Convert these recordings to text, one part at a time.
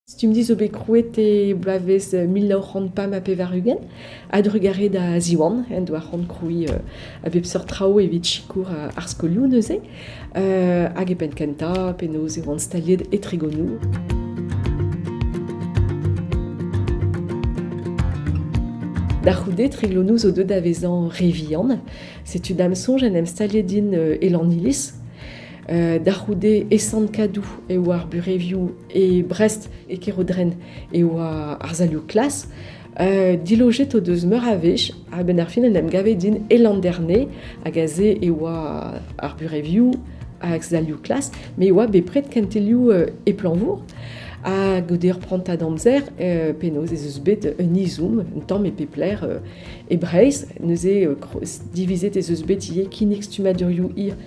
Stumdi zo bet krouet e bloavezh mil nav c'hant pemp ha pevar-ugent a-drugarez da Ziwan en doa c'hoant krouiñ a bep seurt traoù evit sikour ar skolioù neuze. hag e penn kentañ penaos e oant staliet e Tregonoù. Da c'houde, Triglonou zo deuet da vezañ re vihan. Setu da'm soñj en em staliet din e Lanniliz. Da c'houde e Sant-Kadou e oa ar burevioù e Brest, e Kerodren e oa ar salioù klas. Dilojet o deus meur a wech a-benn ar fin en em gave din e Landerne hag aze e oa ar burevioù hag salioù klas met e oa bepred kentelioù e Planvour ha goude ur prantad amzer penaos ez eus bet un izoum un tamm e pep lec'h e Breizh neuze divizet ez eus bet ivez kinnig stummadurioù hir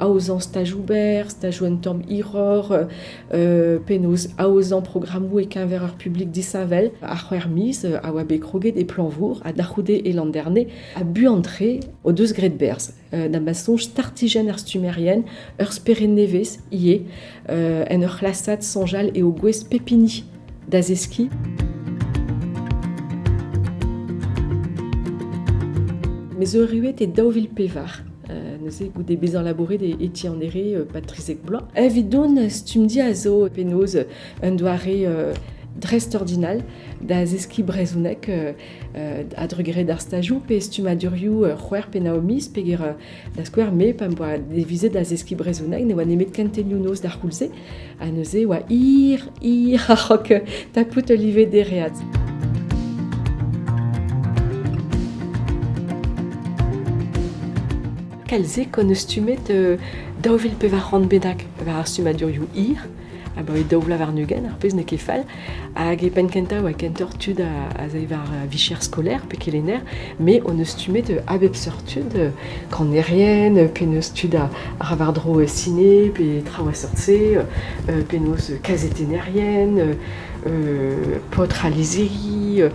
aozañ staj ober, stajoù un tamm hiroc'h, penaos aozañ programmoù e-keñver ar publik disheñvel. Ar c'hwec'h miz a oa bet kroget e Plañvour ha da c'houde e Landerne. Ha buan-tre o deus graet berzh da ma soñj startijenn ar stummerien ur spered nevez ivez en ur c'hlasad soñjal eo gouest pep hini da zeskiñ. Mes Euruet e daou vil pevar. Euh, neuze goude bezañ labouret e Etienne André, euh, Patrice Ekblois. Evidon, stumdi a zo penaos un doare euh, dreist-ordinal da zeskiñ brezhoneg euh, a-drugarez d'ar stajou pe stummadurioù c'hwer pe naomis peger Da skouer, me, pa 'm boa devizet da zeskiñ brezhoneg, ne oa nemet kentelioù-noz d'ar c'houlz-se, ha neuze e oa hir, hir a-raok tapout ul live dereat. Kalzig on stumet uh, daou vil pevar c'hant bedak war ar stummadurioù hir. abaoe daou vloaz warn-ugent, ar pezh n'eo ket fall. Hag e penn kentañ oa kentoc'h tud a, a war vicher skolaer pe kelenner, mais on eus stummet a bep seurt tud, kanerien, penaos tud a, ra war-dro ciné, pe traoù a seurt-se, penaos kazetennerien, paotr a lizhiri,